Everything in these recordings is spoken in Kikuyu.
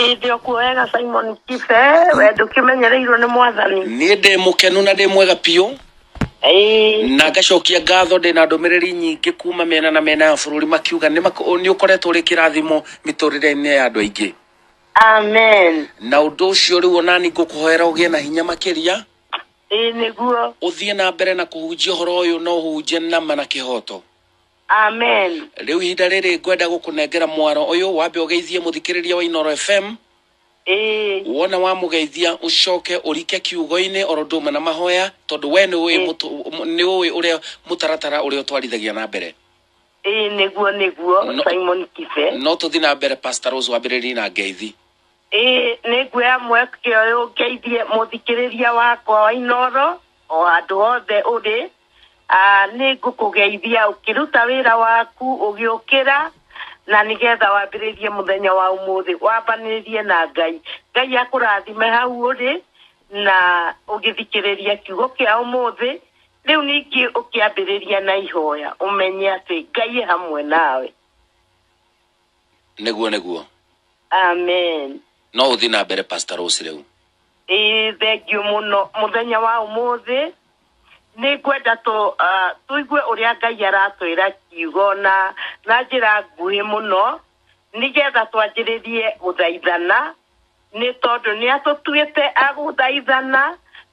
Ĩndĩ o kuoyaga Simon Kibe, we ndũkĩmenyereirwo nĩ mwathani. niĩ ndĩ mũkenu na ndĩ mwega biũ Ĩĩ, na ngacokia ngatho ndĩ na ndũmĩrĩri nyingĩ kuma mĩena na mĩena ya bũrũri makiuga nĩ mak- nĩ ũkoretwo ũrĩ kĩrathimo mĩtũrĩre-inĩ ya andũ aingĩ amen. na ũndũ ũcio rĩu onani ngũkũhoera ũgĩe na hinya makĩria Ĩĩ nĩguo. ũthiĩ na mbere na kũhunjia ũhoro ũyũ na ũhunjie nama na kĩhoto Amen. Rĩu ihinda rĩrĩ ngwenda gũkũnengera mwaro ũyũ wambe ũgeithie mũthikĩrĩria wa Inoro FM Ĩĩ. wona wamũgeithia ũcoke ũrike kiugo-inĩ oro ũndũ ũmwe na mahoya tondũ we nĩ ũĩ Ĩĩ. mũtu- mũ- nĩ ũĩ ũrĩa mũtaratara ũrĩa ũtwarithagia na mbere Ĩĩ nĩguo nĩguo No- Simon Kibe. no tũthiĩ na mbere Pastor Rose wambĩrĩrie na ngeithi Ĩĩ nĩngwĩra mweke ũyũ ngeithie mũthikĩrĩria wakwa wa Inoro o handũ hothe ũrĩ Ah, nĩ ngũkũgeithia ũkĩruta wĩra waku ũgĩũkĩra na nĩgetha wambĩrĩrie mũthenya wa ũmũthĩ wambanĩrĩrie na ngai ngai akũrathime hau ũrĩ na ũgĩthikĩrĩria kiugo kĩa ũmũthĩ rĩu ningĩ ũkĩambĩrĩria na ihoya ũmenye atĩ ngai e hamwe nawe nĩguo nĩguo amen no ũthiĩ na mbere pastor rose rĩu ĩĩ thengiũ mũno mũthenya wa ũmũthĩ Nĩ ngwenda tũ, ah, tũigue ũrĩa Ngai aratwĩra kiugo na, na njĩra nguhĩ mũno, nĩ getha twanjĩrĩrie gũthaithana, nĩ tondũ nĩ atũtuĩte a gũthaithana,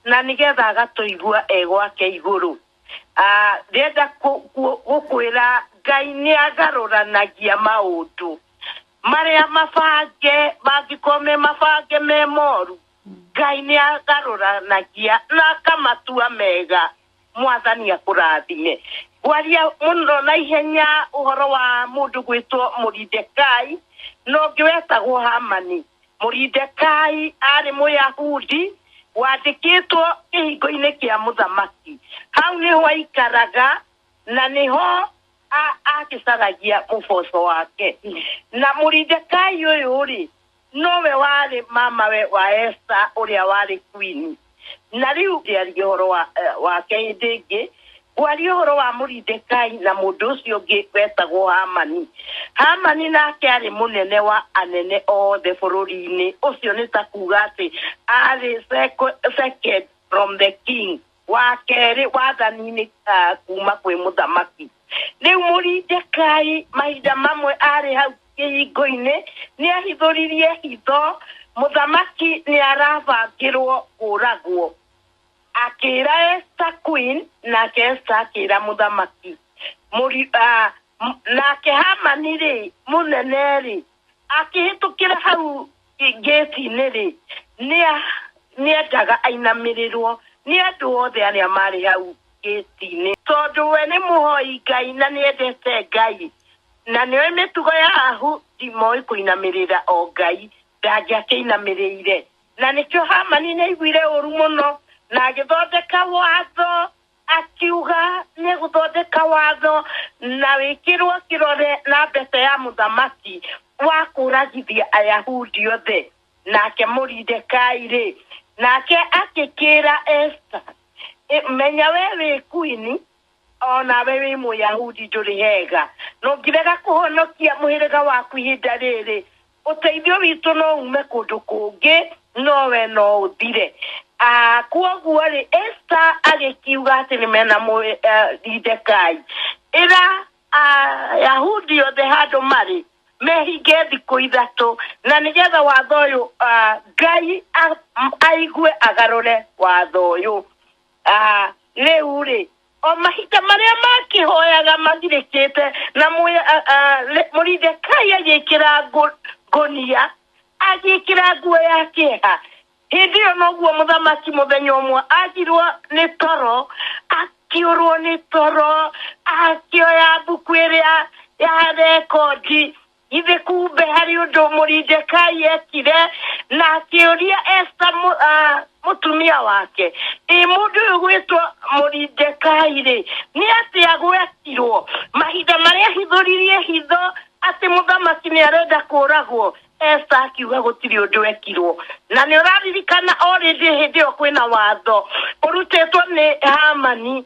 na nĩ getha agatũigua e gwake igũrũ. Ah, ndĩrenda kũ, kũ, gũkwĩra Ngai nĩ agarũranagia maũndũ. Marĩa mabange, mangĩkorwo me mabange me moru, Ngai nĩagarũranagia na akamatua mega. Mwathani akũrathime. Ngwaria mũno na ihenya ũhoro wa mũndũ ũgwĩtwo Moridekai, na ũngĩ wetagwo Hamani. Moridekai arĩ Mũyahudi wandĩkĩtwo kĩhingo-inĩ kĩa mũthamaki. Hau nĩho aikaraga na nĩho agĩcaragia ũboco wake. Na Moridekai ũyũ-rĩ, Nowe warĩ mamawe wa Esta ũrĩa warĩ kuini. Na rĩu ndiarie ũhoro wa, eh, wake hĩndĩ ĩngĩ, ngwaria ũhoro wa Moridekai na mũndũ ũcio ũngĩ wetagwo Hamani. Hamani nake aarĩ mũnene wa anene othe bũrũri-inĩ. Ũcio nĩ ta kuuga atĩ aarĩ seco- second from the king. wa kerĩ wathani-inĩ ah, kuma kwĩ mũthamaki rĩu mũrindekai mahinda mamwe arĩ hau kĩhingo-inĩ nĩ ahithũririe hitho mũthamaki nĩ arabangĩrwo kũragwo akĩra Esther Queen nake Esther akĩra mũthamaki Mũri- ah, m- nake Hamani rĩ mũnene rĩ Akĩhĩtũkĩra hau ngĩti-inĩ-rĩ, nĩendaga ainamĩrĩrwo nĩ andũ othe arĩa maarĩ hau ngĩti-inĩ. Tondũ we nĩ mũhoi Ngai na nĩendete Ngai, na nĩoĩ mĩtugo ya Ayahudi moĩ kũinamĩrĩra o Ngai, ndangĩakĩinamĩrĩire. Na nĩkĩo Hamani nĩaiguire ũũru mũno, na agĩthondeka watho. Akiuga nĩegũthondeka watho na wĩkĩrwo kĩrore na mbeca ya mũthamaki wa kũũragithia Ayahudi othe. Nake Moridekai-rĩ, nake agĩkĩĩra Esta, Menya wee wĩ kuini, o nawe wĩ Mũyahudi ndũrĩ hega. Ndũngĩrega kũhonokia mũhĩrĩga waku ihinda rĩrĩ Ũteithio witũ no uume kũndũ kũngĩ, no we no ũthire. Ah, Kwoguo-rĩ, Esta agĩkiuga atĩ nĩ mena Moridekai, ĩra Ayahudi othe handũ marĩ, mehinge thikũ ithatũ, na nĩgetha watho ũyũ ah, Ngai a- aigue agarũre watho ũyũ. Ah, Rĩu-rĩ, O mahinda marĩa makĩhoyaga mathirĩkĩte, na Moridekai agĩkĩra ngũnia, agĩkĩra nguo ya kĩeha. Hĩndĩ ĩyo noguo mũthamaki mũthenya ũmwe agirwo nĩ toro, akĩũrwo nĩ toro, akĩoya mbuku ĩrĩa ya rekondi. githĩ kumbe harĩ ũndũ mũrindekai ekire na akĩũria esta mũ- ah, mũtumia wake ĩ mũndũ ũyũ gwĩtwo mũrindekai rĩ nĩ atĩ agwetirwo mahinda marĩa hithũririe hitho atĩ mũthamaki nĩ arenda kũragwo esta akiuga gũtirĩ ũndũ ekirwo na nĩ ũraririkana o rĩndĩ hĩndĩ ĩyo kwĩna watho ũrutĩtwo nĩ hamani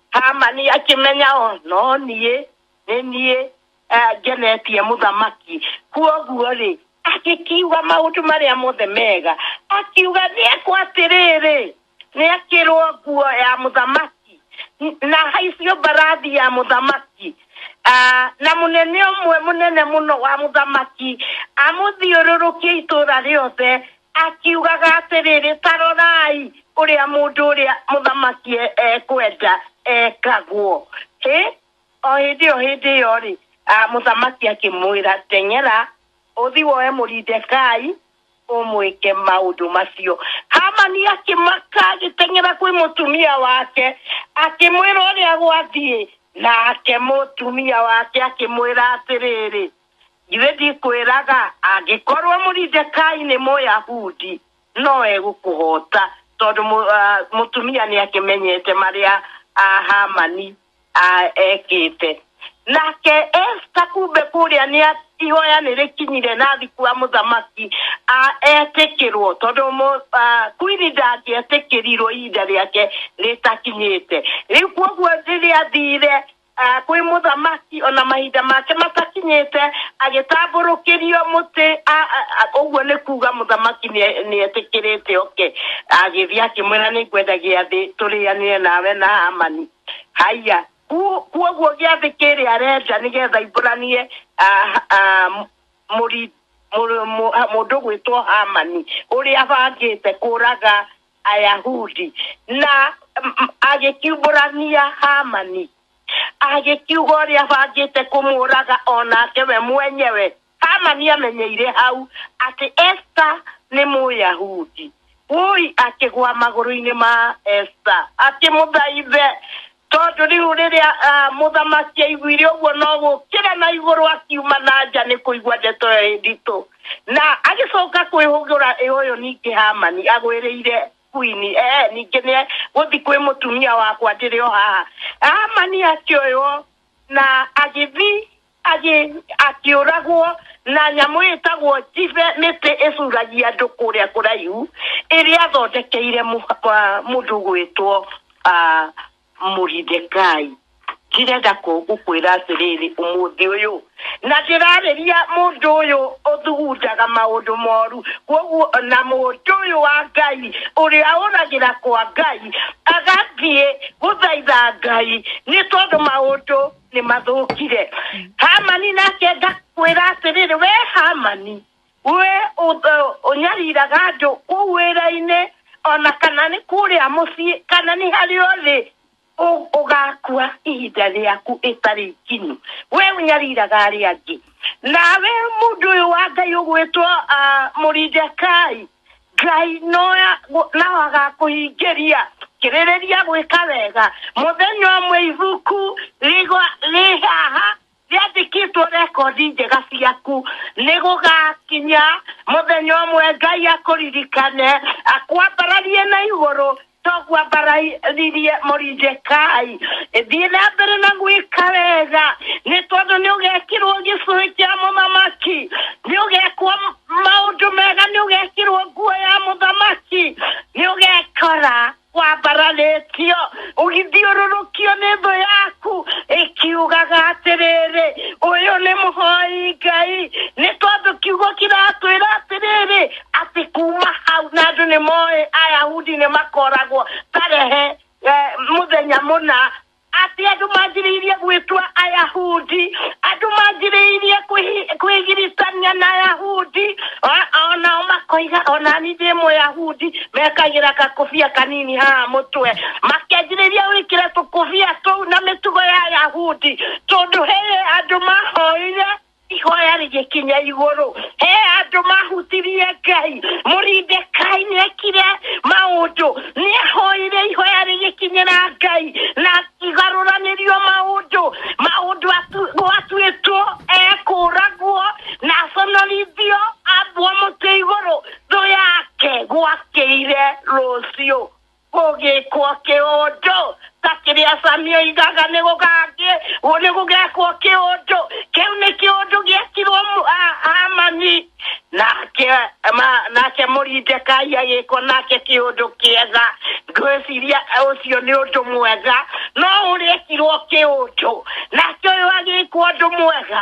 hamani akĩmenya o no niĩ nĩ niĩ eh, ngenetie mũthamaki kuoguo rĩ agĩkiuga maũndũ marĩa mothe mega akiuga nĩekwo atĩrĩrĩ nĩakĩrwo nguo ya mũthamaki n- na haicio mbarathi ya mũthamaki Ah, na mũnene ũmwe mũnene mũno wa mũthamaki amũthiũrũrũkie itũũra rĩothe akiugaga atĩrĩrĩ ta rorai ũrĩa mũndũ ũrĩa mũthamaki e- ekwenda ekagwo Hĩ? o hĩndĩ ĩyo hĩndĩ ĩyo rĩ ah, mũthamaki akĩmwĩra teng'era ũthi woe mũrindekai ũmwĩke maũndũ macio hamani akĩmaka agĩteng'era kwĩ mũtumia wake akĩmwĩra ũrĩa gwathiĩ nake mũtumia wake akĩmwĩra atĩrĩrĩ njuĩ ndikwĩraga angĩkorwo mũrindekai nĩ mũyahudi no egũkũhota tondũ mũ- ah, mũtumia nĩ akĩmenyete marĩa ah, hamani ah, ekĩte nake esta kumbe kũrĩa nĩ a- ihoya nĩ rĩkinyire nathi kwa mũthamaki ah, etĩkĩrwo tondũ mũ- ah, kwini ndangĩetĩkĩrirwo ihinda rĩake rĩtakinyĩte rĩu kwoguo rĩrĩa athire ah, kwĩ mũthamaki ona mahinda make matakinyĩte agĩtambũrũkĩrio mũtĩ ah, ah, ah, ũguo nĩ kuga mũthamaki nĩ- nĩetĩkĩrĩte oke agĩthiĩ akĩmwĩra nĩ ngwenda gĩathĩ tũrĩanĩre nawe na hamani haya Ku- kuoguo gĩathĩ kĩrĩa arenja nĩgetha imbũranie ah, ah, mũri- mũrũ- mũ- mũndũ gwĩtwo hamani ũrĩa abangĩte kũraga Ayahudi, na mm, mm, agĩkiumbũrania Hamani, agĩkiuga ũrĩa abangĩte kũmũũraga o nake we mwenyewe. Hamani amenyeire hau atĩ Esta nĩ Mũyahudi. Woi akĩgwa magũrũ-inĩ ma Esta akĩmũthaithe tondũ rĩu rĩrĩa ah, mũthamaki aiguire ũguo no gũkĩra na igũrũ akiuma na nja nĩ kũigua ndeto ĩyo ĩ nditũ na agĩcoka kwĩhũgũra ĩ ũyũ ningĩ hamani agwĩrĩire kuini ee ningĩ nĩ gũthi kwĩ mũtumia wakwa ndĩrĩ o haha hamani akĩoywo na agĩthi Agĩ- akĩũragwo na nyamũ ĩtagwo njibe mĩtĩ ĩcuragia andũ kũrĩa kũraihu ĩrĩa athondekeire mũ- wa- mũndũ gwĩtwo ah, mũridekai ndĩrenda kũ- gũkwĩra atĩrĩrĩ ũmũthĩ ũyũ na ndĩrarĩria mũndũ ũyũ ũthugundaga maũndũ moru koguo na mũndũ ũyũ wa ngai ũrĩa ũragĩra kwa ngai agathiĩ gũthaitha ngai nĩ tondũ maũndũ nĩ mathũkire hamani nake ngakwĩra atĩrĩrĩ we hamani we ũth- ũnyariraga andũ kũu wĩra-inĩ ona kana nĩ kũrĩa mũciĩ kana nĩ harĩ othe ũ- ũgakua ihinda rĩaku ĩtarĩ ikinyu we ũnyariraga arĩa angĩ nawe mũndũ ũyũ wa ngai ũgwĩtwo ah, mũrindekai Ngai noya gu- nao agakũhingĩria kĩrĩrĩria gwĩka wega mũthenya ũmwe ibuku rigwa rĩ haha rĩandĩkĩtwo rekondi njega ciaku nĩ gũgakinya mũthenya ũmwe ngai akũririkane akwambararie na igũrũ togwambararirie morinjekai thiĩ na mbere na gwĩka wega nĩ tondũ nĩ ũgekirwo gĩcũhĩ kĩa mũthamaki nĩ ũgekwo maũndũ mega nĩ ũgekirwo nguo ya mũthamaki nĩ ũgekora wambararĩtio ũgithiũrũrũkio nĩ thũ yaku ĩkiugaga atĩrĩrĩ ũyũ nĩ mũhoi ngai nĩ tondũ kiugo kĩratwĩra atĩrĩrĩ atĩ kuma hau na andũ nĩ moĩ ayahudi nĩ makoragwo tarehe eh, mũthenya mũna atĩ andũ manjĩrĩirie gwĩtwa ayahudi andũ manjĩrĩirie kwĩhi- kwĩgiritania na ayahudi O- onao makoiga onani ndĩ mũyahudi mekagĩra kakũbia kanini haha mũtwe makenjĩrĩria gwĩkĩra tũkũbia tũu na mĩtugo ya ayahudi tondũ he andũ mahoire ihoya rĩgĩkinya igũrũ he andũ mahutirie ngai mũrindekai nĩ ekire maũndũ nĩ ahoire ihoya rĩgĩkinyĩra ngai na igarũranĩrio maũndũ maũndũ atu- gwatuĩtwo ekũragwo na aconorithio ambwo mũtĩ igũrũ thũ yake gwakĩire rũciũ Gũgĩkwo kĩũndũ ta kĩrĩa Sami oigaga nĩ gũgangĩ, nĩ gũgekwo kĩũndũ. Kĩu nĩ kĩũndũ gĩekirwo mu- a- Hamani. Nake ma- nake Moridekai agĩkwo nake kĩũndũ kĩega. Ngwĩciria ũcio nĩ ũndũ mwega, no ũrekirwo kĩũndũ. Nake ũyũ agĩkwo ũndũ mwega,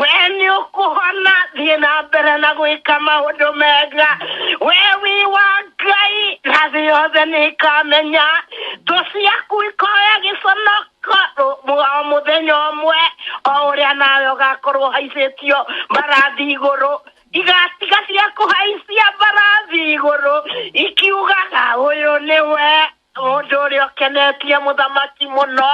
we nĩ ũkũhona thiĩ na mbere na gwĩka maũndũ mega we wi wa ngai na thĩ yothe nĩ ĩkamenya thũ ciaku ikoya gĩconoko rũ- mu- o mũthenya ũmwe o ũrĩa nawe ũgakorwo ũhaicĩtio mbarathi igũrũ igatiga cia kũhaicia mbarathi igũrũ ikiugaga ũyũ nĩwe Mũndũ ũrĩa ũkenetie mũthamaki mũno,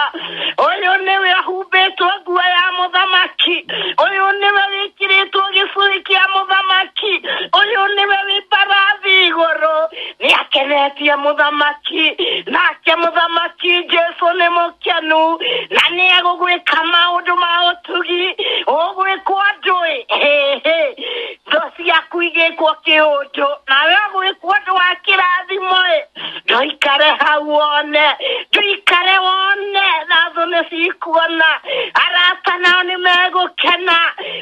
ũyũ nĩwe ahumbĩtwo nguo ya mũthamaki, ũyũ nĩwe wĩkĩrĩtwo gĩcũhĩ kĩa mũthamaki, ũyũ nĩwe wĩ mbarathi igũrũ, nĩ akenetie mũthamaki, nake mũthamaki Jesu nĩ mũkenu, na nĩ egũgwĩka maũndũ ma ũtugi, ũgwĩkwo andũ-ĩ, hĩ hĩ, Ndo ciaku igĩkwo kĩũnjũ nawe ũgĩkwo ũndũ wa kĩrathimo ĩ ndoikare hau wone ndoikare wone na thũ nĩ cikuona arata nao nĩ megũkena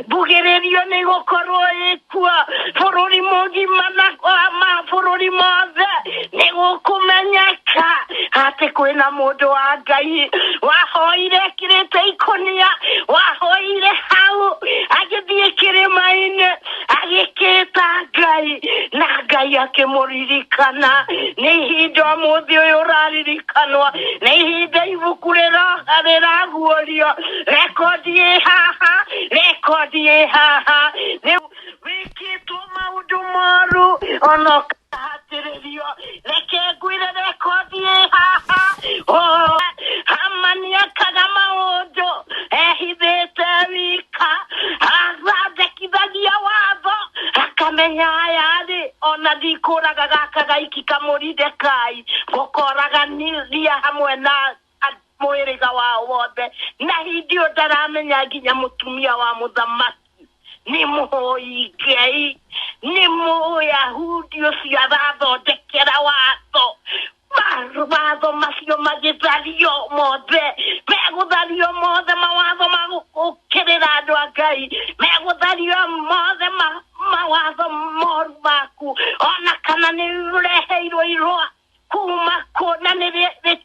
mbugĩrĩrio nĩ gũkorwo ĩkuo bũrũri mũgima na ma- mabũrũri mothe nĩ gũkũmenyeka atĩ kwĩna mũndũ wa ngai wahoire ekĩrĩte ikũnia wahoire hau agĩthiĩ kĩrĩma-inĩ agĩkĩta ngai na ngai akĩmũririkana nĩ ihinda mũthĩ ũyũ ũraririkanwa nĩ ihinda ibuku rĩraguũrio rekondi ĩ haha rekondi ĩ haha wĩkĩtwo maũndũ moru ona ũkahatĩrĩrio reke ngwĩre rekondi ĩ haha Oh, hamani akaga maũndũ ehithĩte wika athondekithagia watho akamenya ayarĩ ona ndikũraga gaka gaiki kamũrindekai gũkoraga niria hamwe na mũhĩrĩga wao wothe na hindi ĩyo ndaramenya nginya mũtumia wa mũthamaki nĩ mũhoi ngai nĩ mũyahudi ũcio arathondekera watho Ma- watho macio magĩthario mothe megũthario mothe mawatho ma gũkĩrĩra andũ a ngai megũthario mothe ma- mawatho moru maku ona kana nĩ ũreheirwo irũa kuma kũ na nĩ rĩ- rĩ-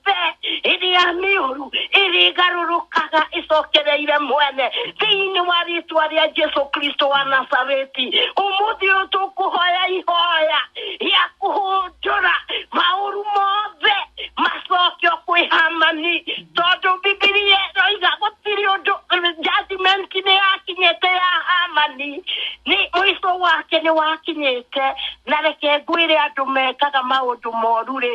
mbembe hĩndĩ ya mĩũru ĩrĩgarũrũkaga ĩcokereire mwene thĩinĩ wa rĩtwa rĩa jesu kristo wa nazareti ũmũthĩ ũyũ tũkũhoya ihoya rĩa kũhũndũra maũru mothe macokio kwĩ hamani tondũ bibilia ĩroiga gũtirĩ ũndũ judgment nĩ yakinyĩte ya hamani nĩ mũico wake nĩ wakinyĩte na reke ngwĩre andũ mekaga maũndũ moru rĩ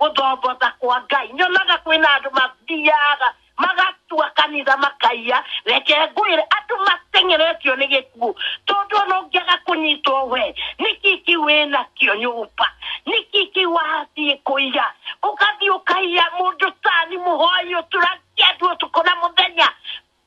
gũthomboza kwa ngai nyonaga kwĩna andũ mathiaga magatua kanitha makaiya reke ngwĩre andũ matengeretio nĩ gĩkuũ tondũ ona ũngĩaga kũnyitwo we nĩkĩ kĩ wĩna kĩo nyũmba nĩkĩ kĩ wathiĩ kũiya ũgathiĩ ũkaiya mũndũ tani mũhoi ũtũragia andũ ũtukũ na mũthenya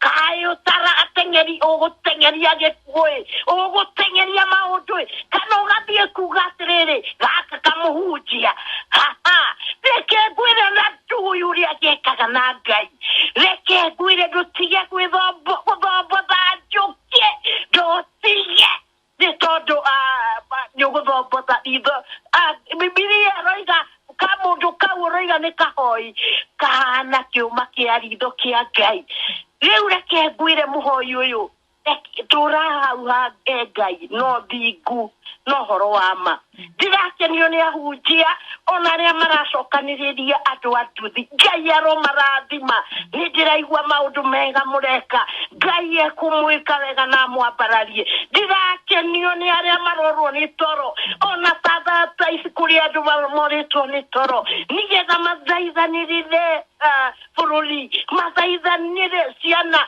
kaĩ ũtara ateng'eri ũgũteng'eria gĩkuũ-ĩ ũgũteng'eria maũndũ-ĩ kana ũgathiĩ kuga atĩrĩrĩ gaka kamũhunjia haha reke ngwĩre na ndui ũrĩa gĩkaga na ngai reke ngwĩre ndũtige gwĩthombo- gũthombotha njũkĩ ndũtige nĩ tondũ ah, ba- nĩ ũgũthombotha itho Ah, bibilia ĩroiga ka mũndũ kau ũroiga nĩ kahoi kahana kĩũma kĩa ritho kĩa ngai rĩu reke ngwĩre mũhoi ũyũ reke- tũra hau ha he ngai no thingu no ũhoro wa ma Ndirakenio nĩ ahunjia ona arĩa maracokanĩrĩria andũ a nduthi. Ngai aromarathima. Nĩ ndĩraigua maũndũ mega mũreka. Ngai ekũmwĩka wega na amwambararie. Ndirakenio nĩ arĩa marorwo nĩ toro ona ta thaa ta ici kũrĩ andũ ma- morĩtwo nĩ toro nĩgetha mathaithanĩrĩre ah, bũrũri mathaithanĩre ciana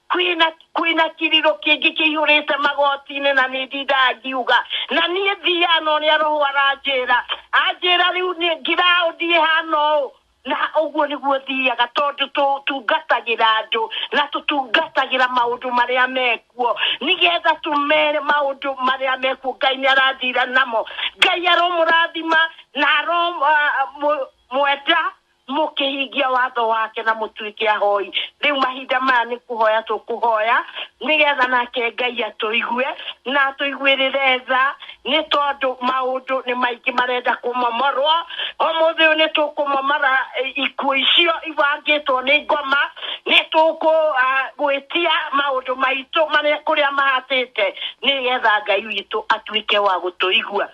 Kwĩna, kwĩna kiriro kĩngĩ kĩihũrĩte magoti-inĩ na nĩ ndindaga ngiuga na niĩ thiaga na ũrĩa roho aranjĩra anjĩra rĩu nĩ ngiraũndi ĩhana ũũ na ũguo nĩguo thiaga tondũ tũtungatagĩra andũ na tũtungatagĩra maũndũ marĩa mekuo nĩgetha tũmere maũndũ marĩa mekuo ngai nĩ arathira namo ngai aromũrathima na aromwenda mũkĩhingia watho wake na mũtuĩke ahoi rĩu mahinda maya nĩ kũhoya tũkũhoya nĩgetha nake ngai atũigue na atũiguĩrĩre tha nĩ tondũ maũndũ nĩ maingĩ marenda kũmomorwo ũmũthĩ ũyũ nĩ tũkũmomora eh, ikuũ icio ibangĩtwo nĩ ngoma nĩ tũkũgwĩtia maũndũ maitũ marĩa kũrĩa mahatĩte nĩgetha ngai witũ atuĩke wa gũtũigua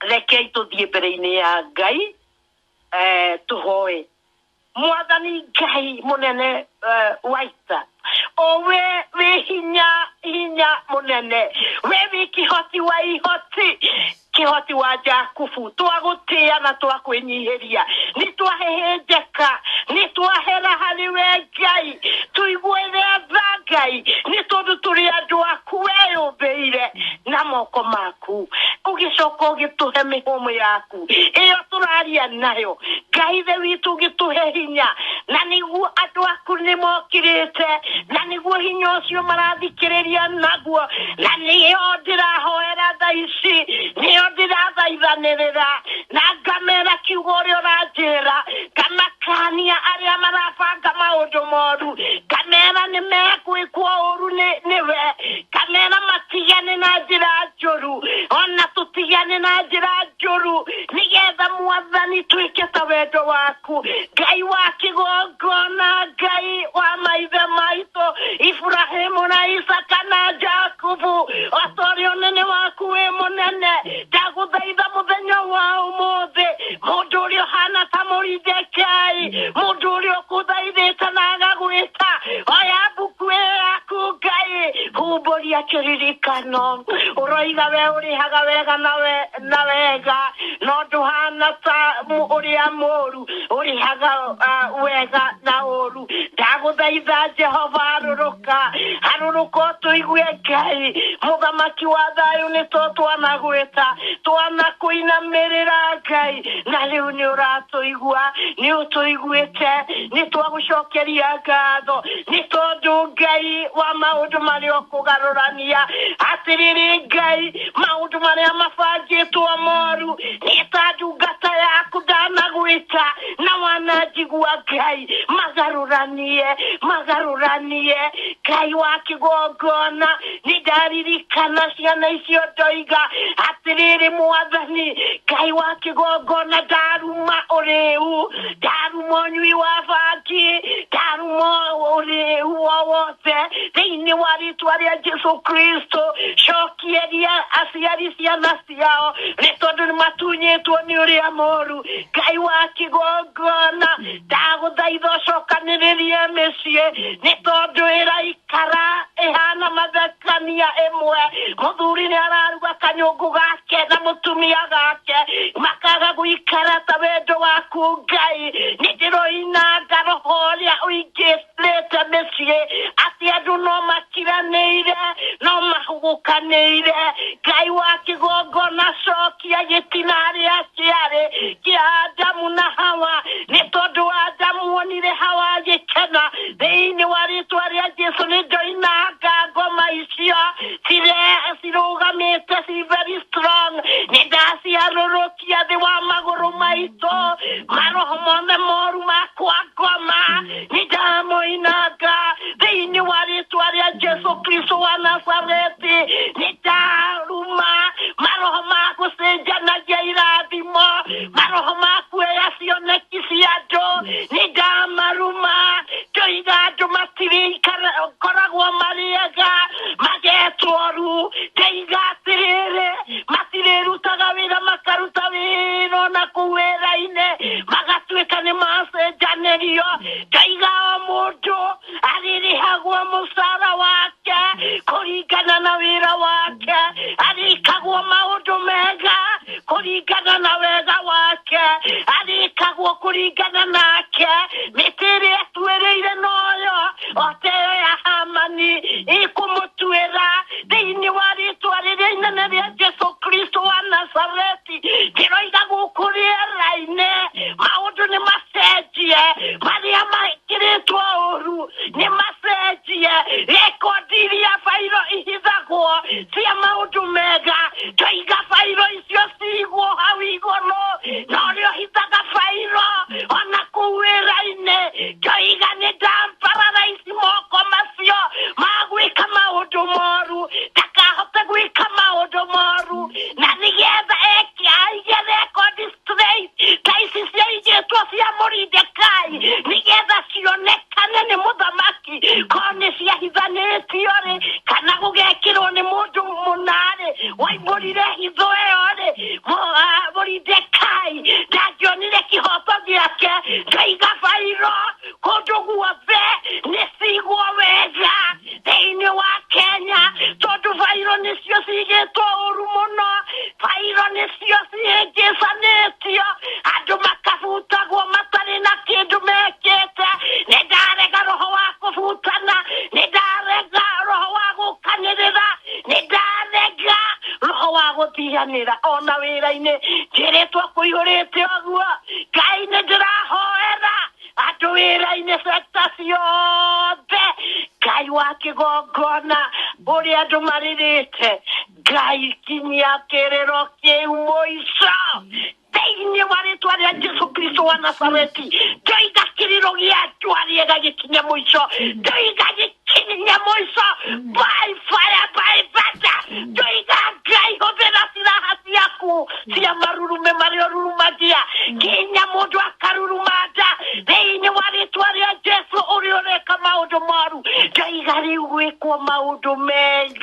rekei tũthiĩ mbere-inĩ ya ngai eh, tuhoe mwathani ngai munene eh, waita owe wi hinya hinya munene we wi kihoti wa ihoti kihoti wa jakubu twagutia na twakwinyihiria ni twahehenjeka ni twahera hari we ngai tuigue tha ngai ni tondu turi andu aku weyumbiire na moko maku ugicoka ugituhe mihumu yaku yaku ĩyo tũraria nayo ngai thĩ witũ gĩtũhe hinya na nĩguo andũ aku nĩ mokĩrĩte na nĩguo hinya ũcio marathikĩrĩria naguo na nĩyo ndĩrahoera tha ici nĩyo ndĩrathaithanĩrĩra na ngamera kiugo ũrĩa ũranjĩra ngamakania arĩa marabanga maũndũ moru ngamera nĩ megwĩkwo ũru nĩ- nĩwe ngamera matigane na njĩra njũru ona tũtigane na njĩra njũru nĩgetha mwathani twĩke ta wendo waku ngai wa kĩgongona ngai wa maithe maitũ iburahĩmu na isaka na jakubu otorĩ ũnene waku wĩ mũnene ndagũthaitha mũthenya wa ũmũthĩ Mũndũ ũrĩa ũhana ta Moridekai, mũndũ ũrĩa ũkũthaithĩte na agagwĩta, oya mbuku ĩyo yaku Ngai, humbũria kĩririkano. Ũroiga we ũrĩhaga wega na we- na wega, no ndũhana ta mũ- ũrĩa mũũru ũrĩhaga ah, wega na ũũru. ndagũthaitha jehova harũrũka harũrũka ũtũigue ngai mũthamaki wa thayũ nĩ to twanagwĩta twanakũinamĩrĩra ngai na rĩu nĩ ũratũigua nĩ ũtũiguĩte nĩ twagũcokeria ngatho nĩ tondũ ngai wa maũndũ marĩa ũkũgarũrania atĩrĩrĩ ngai maũndũ marĩa mabangĩtwo moru nĩ ta ndungata yaku ndanagwĩta na wananjigi wa ngai magarũranie magarũranie ngai wa kĩgongona nĩ ndaririkana ciana icio ndoiga atĩrĩrĩ mwathani ngai wa kĩgongona ndaruma ũrĩu ndaruma ũnyui wa bangi ndaruma ũrĩu o wothe thĩinĩ wa rĩtwa rĩa jesu kristo cokieria aciari ciana ciao nĩ tondũ nĩ matunyĩtwo nĩ ũrĩa moru ngai wa kĩgongona ndagũthaitha ũcokanĩrĩrie mĩciĩ nĩ tondũ ĩraikara ĩhana mathekania ĩmwe mũthuri nĩ araruga kanyũngũ gake na mũtumia gake makaga gũikara ta wendo waku ngai nĩ ndĩroinanga roho ũrĩa ũingĩte nĩte mĩciĩ atĩ andũ no matiranĩire no mahugukanĩire ngai wa kĩgongona cokia gĩtina rĩa kĩarĩ kĩa adamu na hawa nĩ tondũ wa adamu wonire hawa agĩkena thĩinĩ wa rĩtwa rĩa jesu nĩ ndoinanga ngoma icio cire cirũgamĩte ci very strong nĩ ndaciarũrũkia gũcokia thĩ wa magũrũ maitũ maroho mothe moru makwa ngoma nĩ ndamũinanga thĩinĩ wa rĩtwa rĩa jesu kristo wa nazareti nĩ ndaruma maroho ma gũcenjanagia irathimo maroho ma kuoya cioneki cia andũ nĩ ndamaruma ndoiga andũ matirĩikara koragwo marĩega magetoru ndeiga atĩrĩrĩ matirĩrutaga wĩra makaruta wĩra ona kũu wĩra-inĩ magatuĩka nĩ macenjanĩrio ngaiga o mũndũ arĩrĩhagwo mũcara wake kũringana na wĩra wake arĩkagwo maũndũ mega kũringana na wega wake arĩkagwo kũringana nake mĩtĩ ĩrĩa tuĩrĩire noyo oteo ya hamani ikũmũtuĩra thĩinĩ wa rĩtwa rĩrĩa inene rĩa jesu kristo wa nazareti ndĩroiga gũkũ rĩera-inĩ maũndũ nĩ macenjie marĩa mekĩrĩtwo ũru nĩ macenjie rekondi iria bairo ihithagwo cia maũndũ mega tũiga bairo cio ciigwo hau igũrũ na ũrĩa ũhitaga bairo ona kũu wĩra-inĩ kĩoiga nĩ ndampararais moko macio ma gwĩka maũndũ moru ndakahote gwĩka maũndũ moru na nĩgetha eke aige rekondi straight ta ici ciaigĩtwo cia mũrindekai nĩgetha cionekane nĩ mũthamaki mũthamaki korwo nĩ ciahithanĩtio rĩ kana gũgekĩrwo nĩ mũndũ mũna rĩ waimbũrire hitho ĩyo rĩ Mo- ah, mũrindekai ndangĩonire kĩhoto gĩake ndaiga bairo kũndũ guothe nĩ cigwo wega thĩinĩ wa kenya tondũ bairo nĩcio cigĩtwo ũru mũno bairo nĩ cio cihĩngĩcanĩtio andũ makabutagwo matarĩ na kĩndũ mekĩte nĩ ndarega roho wa kũbutana nĩ ndarega roho wa gũkanĩrĩra nĩ ndarega roho wa gũtiganĩra ona wĩra-inĩ njĩrĩtwo kũihũrĩte ũguo ngai nĩ ndĩrahoera andũ wĩra-inĩ sekta ciothe ngai wa kĩgongona ũrĩa andũ marĩrĩte ngai kinyia kĩrĩro kĩu mũico thĩinĩ wa rĩtwa rĩa jesu kristo wa nazareti ndoiga kĩrĩro gĩa njũa rĩega gĩkinye mũico ndoiga gĩkinye mũico by fire by thunder ndoiga ngai hũthĩra ciraha ciaku cia marurume marĩa ũrurumagia kinya mũndũ akaruruma nda thĩinĩ wa rĩtwa rĩa jesu ũrĩa ũreka maũndũ moru ndoiga rĩu gwĩkwo maũndũ mega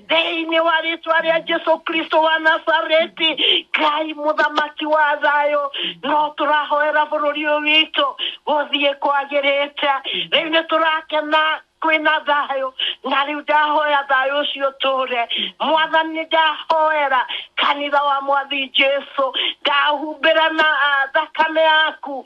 thĩinĩ wa rĩtwa rĩa jesu kristo wa nazareti ngai mũthamaki wa thayũ no tũrahoera bũrũri ũyũ witũ gũthiĩ kwagĩrĩte rĩu nĩ tũrakena kwĩna thayũ na rĩu ndahoya thayũ ũcio tũre mwathani ndahoera kanitha wa mwathi jesu ndahumbĩra na ah, thakame yaku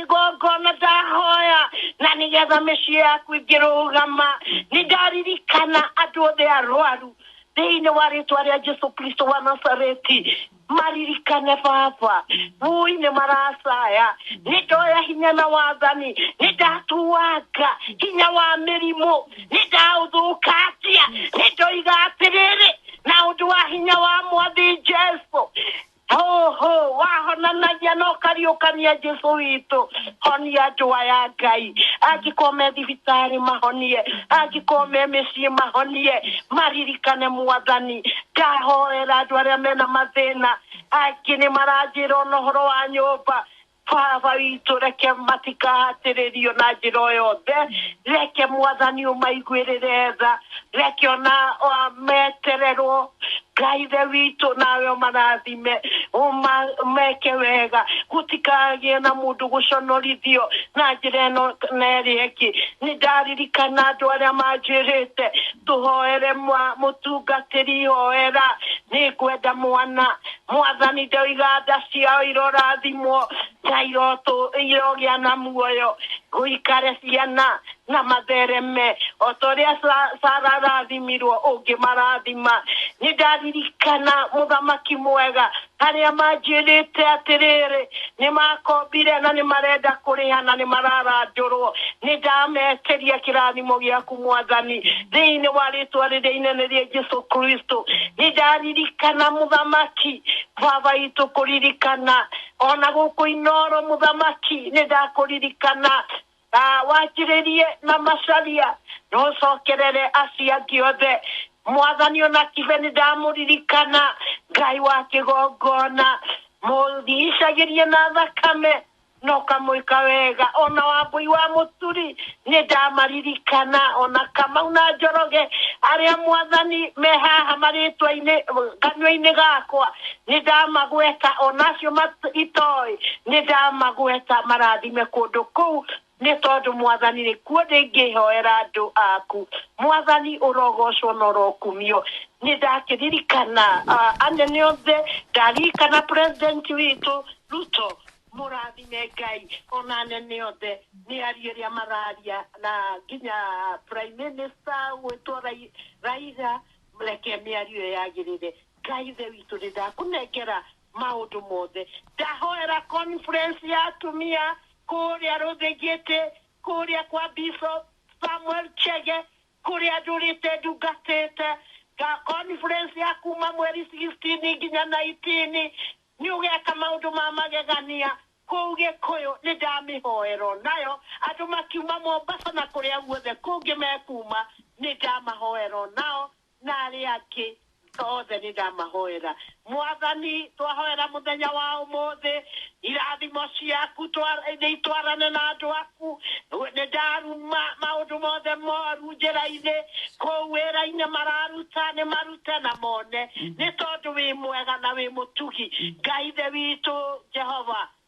igongona ndahoya na nĩgetha mĩciĩ yaku ĩngĩrũgama nĩ ndaririkana andũ othe arwaru thĩinĩ wa rĩtwa rĩa jesu kristo wa nazareti maririkane baba vui nĩ maracaya nĩ ndoya hinya na wathani nĩ ndatuanga hinya wa mĩrimũ nĩ ndaũthũkangia nĩ ndoiga atĩrĩrĩ na ũndũ wa hinya wa mwathi jesu Ho, ho, wahonanagia na ũkariũkania jesu witũ honia andũ aya ngai angĩkorwo me thibitarĩ mahonie angĩkorwo me mĩciĩ mahonie maririkane mwathani ndahoera andũ arĩa mena mathĩna angĩ nĩ maranjĩra ona ũhoro wa nyũmba Baba witũ reke matikahatĩrĩrio na njĩra o yothe reke mwathani ũmaiguĩrĩre tha reke ona o- metererwo ngai the witũ nawe ũmarathime ũma- meke wega gũtikagĩe na mũndũ gũconorithio na njĩra ĩno na ĩrĩa ĩngĩ nĩ ndaririkana andũ arĩa manjĩrĩte tũhoere mwa- mũtungatĩri hoera nĩ ngwenda mwana Mwathani ndoiga nda ciao irorathimwo, na irotu, irogĩa na muoyo, gũikare ciana, na mathereme, o ta ũrĩa Sa- Sara arathimirwo, ũngĩmarathima. Nĩ ndaririkana, Mũthamaki mwega, harĩa manjĩrĩte atĩrĩrĩ, Nĩ maakombire na nĩ marenda kũrĩha na nĩ mararandũrwo. Nĩ ndameteria kĩrathimo gĩaku, Mwathani, thĩinĩ wa rĩtwa rĩrĩa inene rĩa Jesu Kristo. Nĩ ndaririkana, Mũthamaki, Baba witũ kũririkana, o na gũkũ Inooro, Mũthamaki, nĩ ndakũririkana, na wanjĩrĩrie na macaria na ũcokerere acio angĩ othe mwathani ona kibe nĩ ndamũririkana ngai wa kĩgongona mũrigicagĩrie na thakame na ũkamwĩka wega ona wambũi wa mũturi nĩ ndamaririkana ona kamau na njoroge arĩa mwathani me haha marĩtwa-inĩ kanua-inĩ gakwa Nĩ ndamagweta, o na acio mat itoĩ, nĩ ndamagweta, marathime kũndũ kũu, nĩ tondũ, Mwathani, nĩ kuo ndĩngĩhoera andũ aku. Mwathani, ũrogocwo na ũrokumio. Nĩ ndakĩririkana a, anene othe, ndaririkana President witũ, Ruto. Mũrathime Ngai, o na anene othe, mĩario ĩrĩa mararia, na nginya Prime Minister gwĩtwo Rai, Raila, reke mĩario ĩyo yagĩrĩre. Ngai ithe witũ nĩ ndakũnengera maũndũ mothe. Ndahoera conference ya atumia kũrĩa Rũthĩngĩtĩ, kũrĩa kwa Bishop Samuel Chege, kũrĩa ndũrĩte ndungatĩte, nga conference ya kuma mweri 16 nginya 19 nĩ ũgeka maũndũ ma magegania kũu Gĩkũyũ. Nĩ ndamĩhoera o nayo, andũ makiuma Mombasa na kũrĩa guothe kũngĩ mekuma, nĩ ndamahoera o nao na arĩa angĩ othe nĩ ndamahoera. Mwathani, twahoera mũthenya wa ũmũthĩ, irathimo ciaku nĩ itwarane na andũ aku. Nĩ ndaruma maũndũ mothe moru njĩra-inĩ, kũu wĩra-inĩ mararuta, nĩ marute na mone, nĩ tondũ wĩ mwega na wĩ mũtugi. Ngai thĩ witũ Jehova,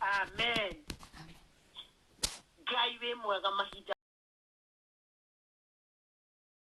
amen ngai wĩ mwega mahinda